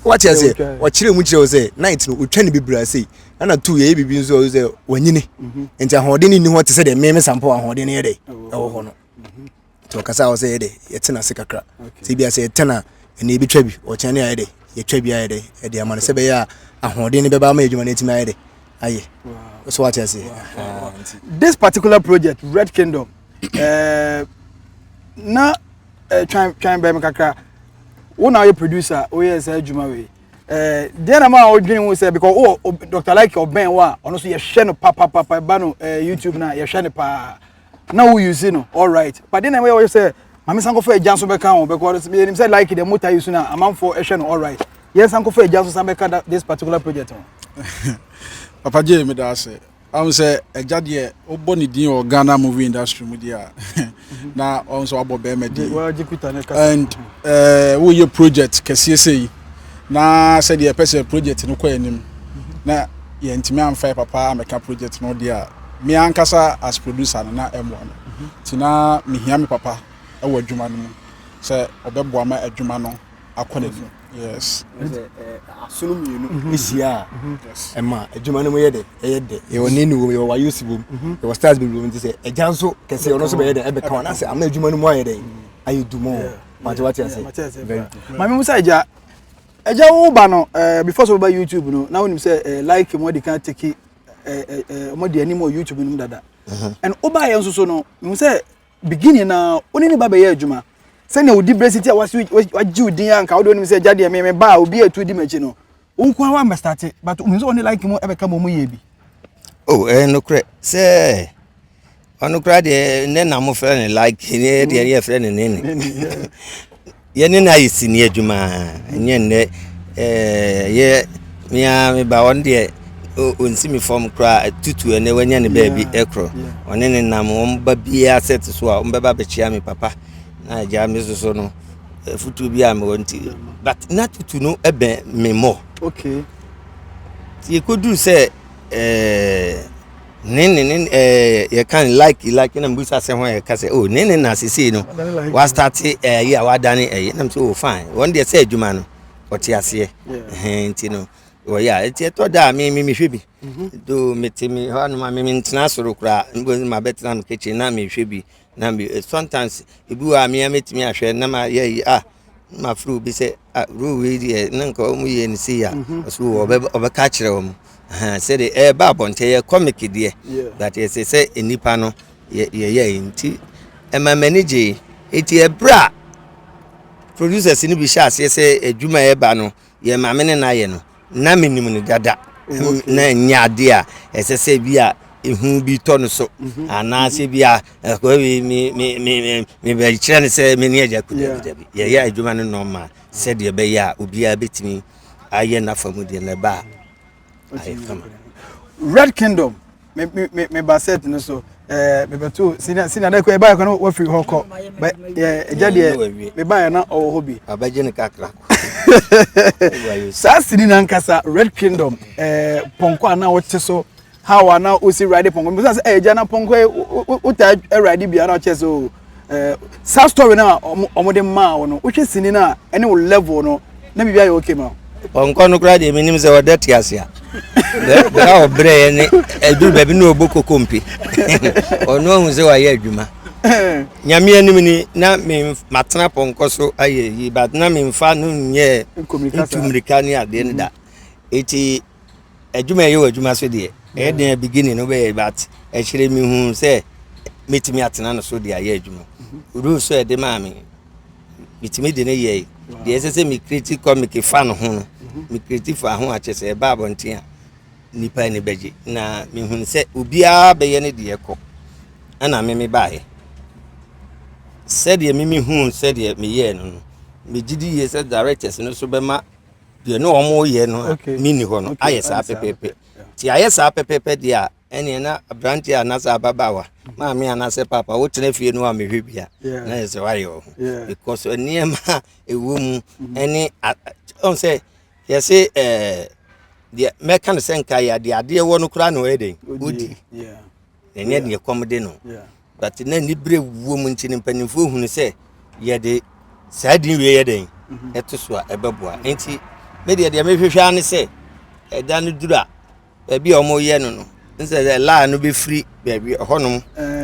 wɔte ase ɔkyerɛ mu kyerɛ sɛ night no ɔtwa ne bebree ase ɛna two yɛyɛ biribi nso ɔyɛ sɛ wɔnyini mhm. nti ahoɔden ne ni hɔ te sɛ deɛ mmɛmɛ sampo ahoɔden no yɛ dɛ oh. ɛwɔ hɔ no mhm. nti ɔkasa a ɔsɛ yɛ dɛ yɛtena ase kakra sɛ ebi asɛ yɛtena ɛna ebi twa bi ɔkyɛn ne ayɛ dɛ yɛtwa bi ayɛ dɛ ɛde ama no sɛ bɛyɛ a ahoɔden no bɛba ama adwuma no atumi ayɛ dɛ ayɛ so wate aseɛ this particular project red kingdom uh, na uh, twan twan bɛm kakra wo na woyɛ producer woyɛ saa adwuma wei eh, deɛ na ma wodwene ho sɛ because wo oh, dr like ɔbɛn wo a ɔno so yɛhwɛ no papapapa ba no youtube no a yɛhwɛ no paa na wo use no alright but then na ɛyɛ wɔyɛ sɛ maame san kɔfa agya nso bɛka ho bɛkɔ yɛnim sɛ like deɛ mota use no a amanfoɔ ɛhwɛ no alright yɛn san kɔfa agya nso san bɛka this particular project ho papa gye me da ase ahun sɛ agya deɛ wobɔ ne din wɔ ghana movie industry mu deɛ a na ɔn sɛ wabɔ bɛrima din and eh, woyɛ project kɛseɛ sɛ yi na sɛdeɛ ɛpɛ sɛ project no kɔ anim na yɛntumi amfa yɛ papa amɛka project no deɛ a me ankasa as producer no na ɛmmoa me nti na mehia me papa ɛwɔ adwuma no mu sɛ ɔbɛboa ma adwuma no akɔ n'anim yes asono mmienu ɛhyia a ɛma adwuma no mu yɛ dɛ ɛyɛ dɛ yɛwɔ ne ne wom yɛwɔ wayosi wom yɛwɔ stars bebree wom nti sɛ agya nso kɛseɛ ɔno nso bɛyɛ dɛ ɛbɛka wɔn asɛ ama adwuma no mu ayɛ dɛ ayɛ dumɔ mate wate ase very good maame musa agya agya wo ba no ɛɛ eh, before so ba youtube no na wonim sɛ ɛɛ eh, like mo de kan teki ɛɛ eh, ɛɛ mo de anim wɔ youtube no mu dada uh-huh. ɛn wo ba yɛ nso so no mehu sɛ beginning na wo ne ne ba bɛyɛ adwuma sɛnea wodi brɛ si ti a wasi wagye wo din a nka wode wonim sɛ agya deɛ meme ba a obi atu di m'akyi no Wonko ara wamɛ starte but wonim sɛ wɔne like mu ɛbɛka mu ɔmo yɛ bi. O oh, ɛyɛ eh, nokorɛ sɛ ɔno koraa deɛ ne na mo frɛ ne like ne deɛ ne yɛfrɛ ne nene yɛne no ayɛ sini adwuma ɛnyɛ nnɛ yɛ mea meba ɔno deɛ ɔnsi me fam koraa tutu ɛnɛ wanya ne baabi ɛkorɔ ɔne ne nam wɔn ba biara sɛ te so a wɔn bɛba bɛkyia me papa na agya me soso no afutuo bi a mewɔ nti but na tutu no bɛn me mmɔ okay nti ɛkɔduru sɛ eh, ne ne ne eh, yɛka no like like na mbusa sɛ ho a yɛka sɛ oh ne ne na sesei no wastate ɛyi eh, a wadane ɛyi eh, nam sɛ oh fine wɔn deɛ sɛ adwuma no ɔte aseɛ nti no wɔyɛ a ɛti ɛtɔ da a me me mehwɛ bi mhm. do mete me hɔ anoma me mentena soro koraa mbɔ ma bɛtena me kitchen na mehwɛ bi na me eh, sometimes ebi wɔ a mea mɛtumi ahwɛ na ma yɛ yi ah ma firi obi sɛ ah rule wei deɛ na nka wɔn yɛ ne sei a ɔso ɔbɛ ɔbɛka akyerɛ wɔn sɛdeɛ ɛɛba abɔnten yɛ comic deɛ but yɛsɛ sɛ nnipa no yɛ yɛyɛ yi nti ɛma m'ani gye eti ɛbrɛ a producers no bi hyɛ aseɛ sɛ adwuma ɛɛba no Yɛn maame ne n'ayɛ no, na menim no dada. Na ɛnyɛ ade a ɛsɛ sɛ bi a ehu bi tɔ no so mhm. anaasɛ bi a ɛkɔ bi mebɛkyerɛ no sɛ mene agya kudabidabi yɛyɛ adwuma no nɔma sɛdeɛ ɛbɛyɛ a obiara bɛtumi ayɛ n'afa mu deɛ na ɛba a ayɛ fama red kingdom me me me me ba set no so ɛɛ me bɛ to sini sini adan kɔ ɛbaa kɔ no wafiri hɔ kɔ bɛ ɛɛ ɛgya deɛ me ba yɛ na ɔwɔ hɔ bi. abɛgye ne kakra kɔ. saa sini na nkasa red kingdom ɛɛ pɔnkɔ a na ɔte so how a na ɔsi ride pɔnkɔ mbisa sɛ ɛgya na pɔnkɔ yɛ ɔtaa ride biara ɔkyɛ so eh, saa story no a wɔde maa wo no wohwɛ sini no a ɛne wo level no na biribi ayɛ okay ma ɔnkɔ no koraa deɛ menim sɛ ɔda te ase a bɛa ɔbrɛɛ ne aduru baabi ne ɔbɔ koko mpe ɔno ahu sɛ wayɛ adwuma nyame anim ni na matena pɔnkɔ so ayɛ yi but na memfa no nyɛ ntu mmirika ne adeɛ no da ɛti adwuma a ɛyɛ wɔ adwuma so deɛ ɛyɛ den a beginning no bɛyɛ but akyire mehu sɛ mɛtumi atena no so de ayɛ adwuma mhm. rules so ɛde maa me metumi de ne yɛe deɛ ɛsɛ sɛ mekreti comic fa no ho no mhm. mekreti fa ho akyɛ sɛ ɛba abɔnten a nnipa ani bɛgye na mehunu sɛ obiara bɛyɛ ne deɛ kɔ ɛna me mebaeɛ sɛdeɛ me mehuu sɛdeɛ meyɛɛ no no megye di yie sɛ directors no so bɛma deɛ ne wɔn reyɛ no a mi ni hɔ no ayɛ saa pɛpɛɛpɛ ti ayɛ saa pɛpɛɛpɛ deɛ a ɛnneɛ na aberanteɛ a n'asɛ ababaawa maame a n'asɛ papa wotena fie no a mehwɛ bia na yɛ sɛ wayɛ wɔ ho because nneɛma a ɛwɔ mu mm-hmm. ɛne ɔn sɛ yɛse ɛɛ deɛ mɛka no sɛ nka yɛ adeɛ adeɛ wɔ no koraa na ɔyɛ dɛ wodi. na ɛnyɛ deɛ kɔm de no but na anibere wuo mu nti no mpanimfoɔ hunu sɛ yɛde saa din wei yɛ dɛn mhm. ɛto so a ɛbɛboa nti me deɛ deɛ mehwehwɛ ara ne sɛ ɛda no duru a baabi a wɔyɛ no no nsɛ sɛ laa no bɛfiri baabi ɛhɔnom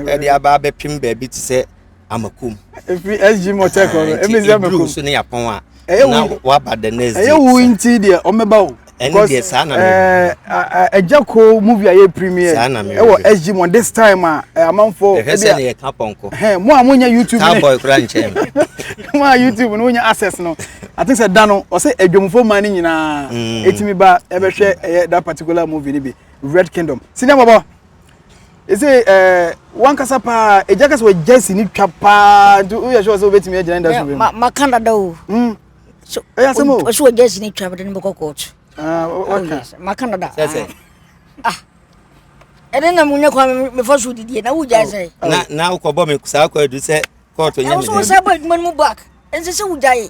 ɛde aba abɛpem baabi te sɛ amakum. efi sg motor kɔ no emi sɛ amakum. so ne yapɔn a. ɛyɛ na waba the next day. ɛyɛ wo nti deɛ ɔmɛba o. ɛne deɛ saa na mɛ. ɛgya ko movie a yɛ premier. saa na mɛ ɛwɔ sg mo this time a amanfo. ɛhwɛ sɛ ne yɛ ka pɔnkɔ. mo a mo nya youtube ne. cowboy kura nkyɛn. mo a youtube no nya access no i think sɛ da no ɔsɛ adwamfo man ne nyinaa. etimi ba ɛbɛhwɛ ɛyɛ that particular movie ni bi red kingdom siniya bɔbɔ. ɛsɛ ɛɛ wankasa paa ɛgya kasa wɔ gya si ne twa paa nti woyɛ sure sɛ wobɛtumi agyina ne da so bɛmu maka dada o hmm. ɛyɛ asɛm o ɔsɛ wɔ gya si ne twa bɛde ne bɛkɔ kɔɔto ah, waka maka dada ah ɛne na munya kwa mefa so didie na wogyae sɛ na wokɔbɔ me saa kɔ adu sɛ kɔɔto nyɛ me sɛ wosɛ bɔ adwuma no mu back ɛnsɛ sɛ wogyae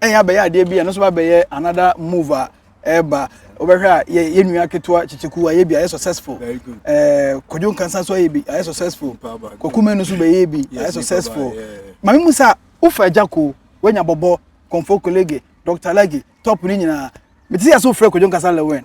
ɛyɛ abɛyɛ adeɛ bi a ɛno nso abɛyɛ another move a ɛreba wobɛhwɛ a yɛ nua ketewa kyekyeku ayɛ bi ayɛ successful ɛɛ kɔdwo nkansa nso ayɛ bi ayɛ successful kɔkume no nso bɛyɛ bi ayɛ successful maame mu sa wofa agya ko wanya bɔbɔ kɔnfo kolege dɔkta lagi top ne nyinaa mete sɛ sɛ wofrɛ kɔdwo nkasa lewɛn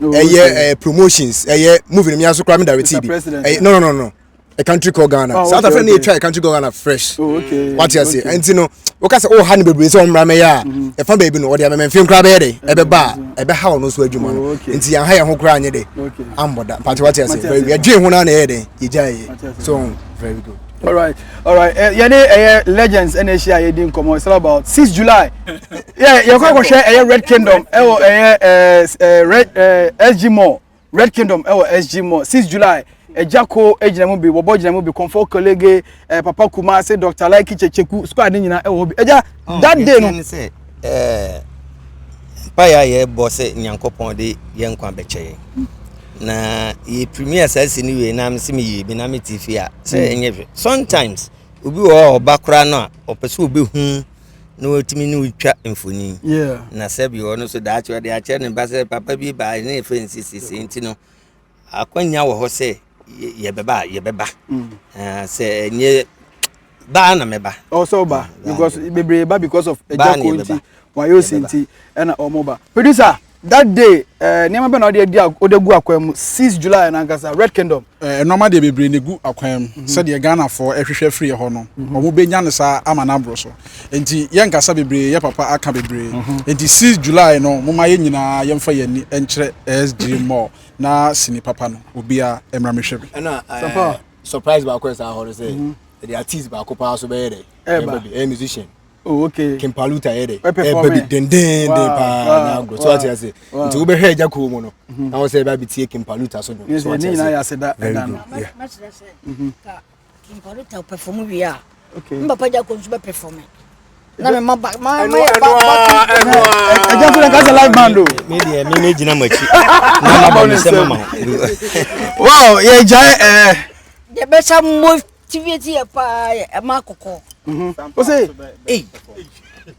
ɛyɛ ɛɛ promotions ɛyɛ movie no mi aso kora mi direct bi ɛyɛ no no no no a country called ghana oh, south africa na etwa a country called ghana fresh oh, wati ase ɛnti no wɔka sɛ ɔha ne bebree sɛ wɔn mmara mɛyɛ a mm-hmm. ɛfa baabi no ɔde amɛmɛ nfin kora bɛyɛ dɛ ɛbɛba a ɛbɛha ɔno nso adwuma no oh, nti yɛn ha yɛn ho kora anyɛ dɛ ambɔ da pati wati ase yɛdwen ho na na ɛyɛ dɛ yɛgya yɛ so very good. All right, all right. Eh, yɛne ɛyɛ eh, legends ɛna ahyia yɛ di nkɔmɔ it's all about six july Yeah, yɛ kɔ akɔhwɛ ɛyɛ eh, red kingdom ɛwɔ ɛyɛ ɛɛ eh, red ɛɛ sg mall red kingdom ɛwɔ sg mall six july ɛgya ko egyina mu bi wɔbɔ gyina mu bi kɔnfɔ kolege ɛɛ papa kumase dr laiki kyekyeku squad ne nyinaa ɛwɔ hɔ bi ɛgya oh, that day no. mpaeɛ a yɛbɔ sɛ nyankopɔn de yɛ nkwa bɛkyɛ yɛn na yɛ premier saa si no wie na me se meyie bi na mete fie a sɛ hmm. ɛnyɛ hwɛ sometimes obi wɔ hɔ a ɔba koraa no a ɔpɛ sɛ ɔbɛhu na watumi ne wotwa mfoni na sɛ bi ɔno so daakye ɔde akyerɛ ne ba sɛ papa bi baa ne ɛfɛ nsisisi nti no akwanya wɔ hɔ sɛ yɛbɛba a yɛbɛba hmm. sɛ ɛnyɛ baa na mɛba. ɔwɔ sɛ ɔba because bebree ba because of agya ko nti wayɛ osi nti ɛna wɔn ba producer that day ɛɛ eh, nneɛma bɛ na ɔde adi ɔde gu akwan mu six july nankasa red kingdom. ɛɛ eh, nneɛma deɛ bebree na egu akwan mu mhm. sɛdeɛ ghanafoɔ ɛhwehwɛ firi ɛhɔ no mhm. wɔn bɛ nya ne saa ama n'aboro so nti yɛn nkasa bebree yɛ papa aka bebree mhm. nti six july no mo ma yɛn nyinaa yɛn fa yɛn ni ɛnkyerɛ ɛsg mall na sini papa no obiara ɛmra mi hwɛ bi. ɛna ɛɛ. surprise baako yɛ saa hɔ no sɛ ɛde artist baako paa so bɛyɛ dɛ ɛba bi ɛyɛ musician Oh, okay. Kimpaluta yɛ dɛ ɛba bi dendenden paa na agorɔ so ate ase nti wobɛhwɛ agya kuo mu no mhm. na wo sɛ ɛba bi tie Kimpaluta so dwom so ate ase very good yeah. Kimpaluta perform wie a me papa gya kɔ nso bɛpɛ fɔ me na me ma ba ma ma yɛ ba ba ɛgya fúnra kásá live band o. mi deɛ mi mi gyina mo akyi na ma bɔ mi sɛ mo ma o. wow yɛ gya ɛ. Eh. yɛ bɛ sa motivate yɛ paa yɛ ɛ ma kɔkɔ. o se ee.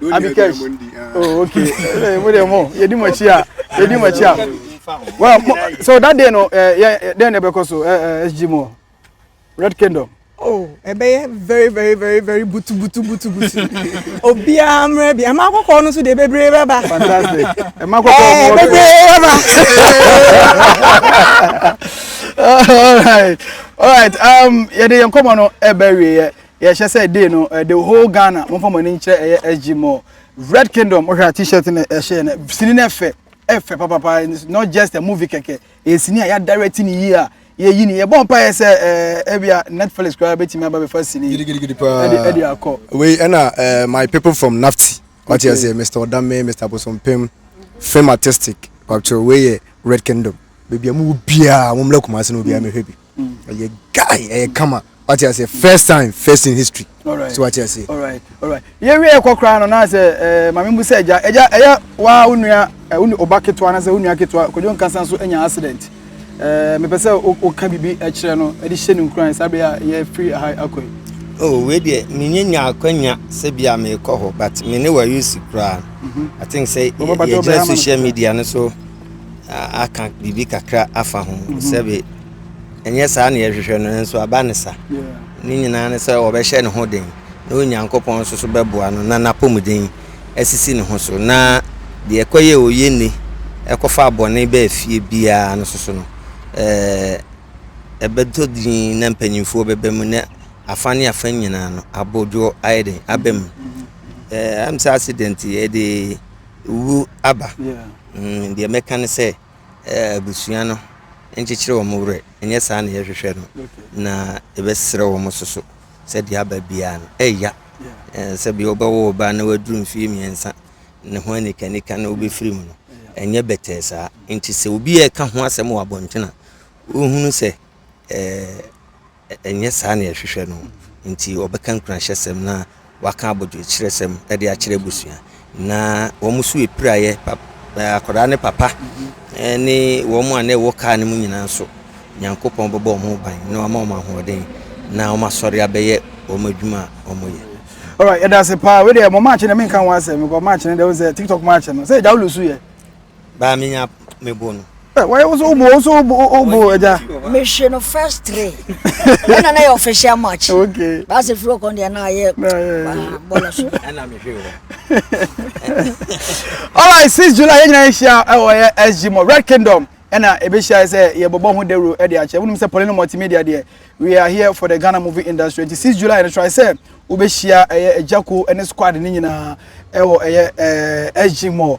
abikɛsh oh okay eh, mo deɛ mo yɛdi mo akyi a yɛdi mo akyi a well mo so that day no eh, yɛ eh, dɛn na ɛbɛkɔ so eh, eh, sg mo red kingdom oh ɛbɛyɛ very very very very butu butu butu butu obiara mmerɛ bi ɛma akɔkɔɔ no so deɛ bebree bɛba fantastic ɛma akɔkɔɔ eh, no bebree bɛba all right all right um yɛde yɛn nkɔmɔ no ɛbɛ wieɛ Yɛhyɛ sɛ day no eh, the whole Ghana momfa mo ani nkyerɛ ɛyɛ SG Mall Red Kingdom wohwɛ a t-shirt no ɛhyɛ yɛ no sini no ɛfɛ ɛfɛ papapa it's not just a movie kɛkɛ ɛyɛ sini a yɛadirect ne yie a yɛyi ne yɛbɔ mpaeɛ sɛ ɛɛ eh, ebia Netflix koraa bɛtumi aba bɛfa sini yi gidigidigidi ɛde paa ɛde akɔ wei ɛna eh, my people from nafti wate okay aseɛ mr ɔdame mr bosompem film artistic kwapkyerɛ wei yɛ red kingdom baabi a mowɔ biaa mommla kumase no obiaa mɛhwɛ bi ɔyɛ guy ɛyɛ kama wate ase first time first in history so wate ase. yɛwie ɛkɔ koraa no na sɛ eh, maame mu sɛ agya agya ɛyɛ waa wo nua eh, wo ɔba ketewa na sɛ wo nua ketewa kwadwo nkasa nso anya accident eh, mepɛ sɛ woka biribi kyerɛ no de hyɛ no nkuran saa bere a yɛfiri ha akɔ yi oh wei deɛ menyɛ nya akwanya sɛ bi a merekɔ hɔ but me ne wayusi koraa mhm. i think sɛ yɛgyina social media no so aka biribi kakra afa ho mhm. sɛbe ɛnyɛ saa ne yɛhwehwɛ no nanso aba ne sa ne nyinaa ne sɛ wɔbɛhyɛ ne ho den na onyankopɔn nso so bɛboa no na n'apɔmuden asisi ne ho so na deɛ ɛkɔyɛ ɔyɛ nne ɛkɔfa bɔne bɛɛ fie biara no soso no ɛɛ ɛbɛtɔ din na mpanyinfoɔ bɛbɛ mu na afa ne afa nyinaa no abodwoɔ ayɛ den aba mu ɛɛ ɛm sɛ accident yɛde wu aba Mm, deɛ mɛka ne sɛ eh, abusua no nkyekyere wɔn werɛ, ɛnyɛ saa na yɛhwehwɛ no, na yɛbɛserɛ wɔn so so sɛ deɛ aba biara no ɛya eh, sɛ bia wobɛwo ɔbaa na waduru mfeɛ mmiɛnsa ne ho anikanika na wobɛfiri mu no ɛnyɛ bɛtɛɛ saa nti sɛ obi a ɛka ho asɛm wɔ abɔntene a wohunu sɛ eh, ɛnyɛ saa na yɛhwehwɛ no, enti wɔbɛka nkuranhyɛsɛm na wɔaka abodwokyerɛsɛm de akyerɛ abusua. Na wɔn so apiraeɛ, akwadaa ne papa ne wɔn a na ɛwɔ kaa no mu nyinaa nso, Nyankopɔn bɛbɔ wɔn ho ban na wɔama wɔn ahoɔden na wɔn asɔre abɛyɛ wɔn adwuma a wɔyɛ. Alright, yɛda ase paa. Wei deɛ mo match no menka ho asɛm because match no deɛ wo sɛ TikTok match no sɛ agya wo lusu yɛ. Baa me nya me bo no. Why also obo also obo obo ẹja. Me hwe no first three. Ẹ na na yẹ official match. Okay. Bá a ṣe firi ọkọ ndẹ náà yẹ bọọlọ so. Ẹ na mi hwe wọ. Alright, six July yẹn nyinaa yẹ ṣia ẹ wọ yẹ SG mọ Red Kingdom ɛna ɛbɛhyia sɛ yɛbɛbɔ ho dawuro de akyɛ wonim sɛ polino multimedia deɛ we are here for the ghana movie industry nti 6 july no try sɛ wobɛhyia ɛyɛ agyako ne squad no nyinaa ɛwɔ ɛyɛ ɛɛ sg mall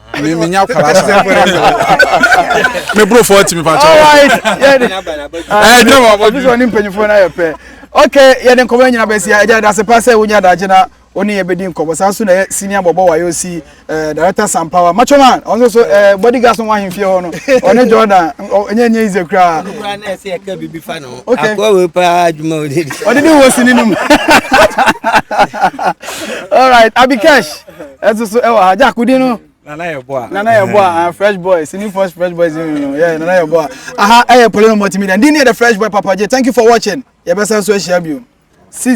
Me me nya kwara sa. Me bro for ti me pa cho. All right. Eh, dem wa. This one mpanyifo na ye pe. Okay, ye den komo nyina besi ya. Eja da se pa se wo nya da je na oni ye bedi nkomo. Sa so na ye senior bobo wa yo si eh director Sam Power. Macho man, onso so eh bodyguard so wa himfie ho no. Oni Jordan, enye enye ize kra. Kra na se ye ka bibi fa no. Okay. Akwa we pa adwuma o de. Odi ni wo sini num. All right, Abikesh. ɛso so ɛwɔ ha jack di no nana yɛ bɔ a nana yɛ bɔ a ah, fresh boy sini first fresh boy sini no yɛ nana yɛ bɔ a aha ɛyɛ polo no multimedia ndi ni yɛ the fresh boy papa j thank you for watching yɛ bɛ san so ahyia bi o six.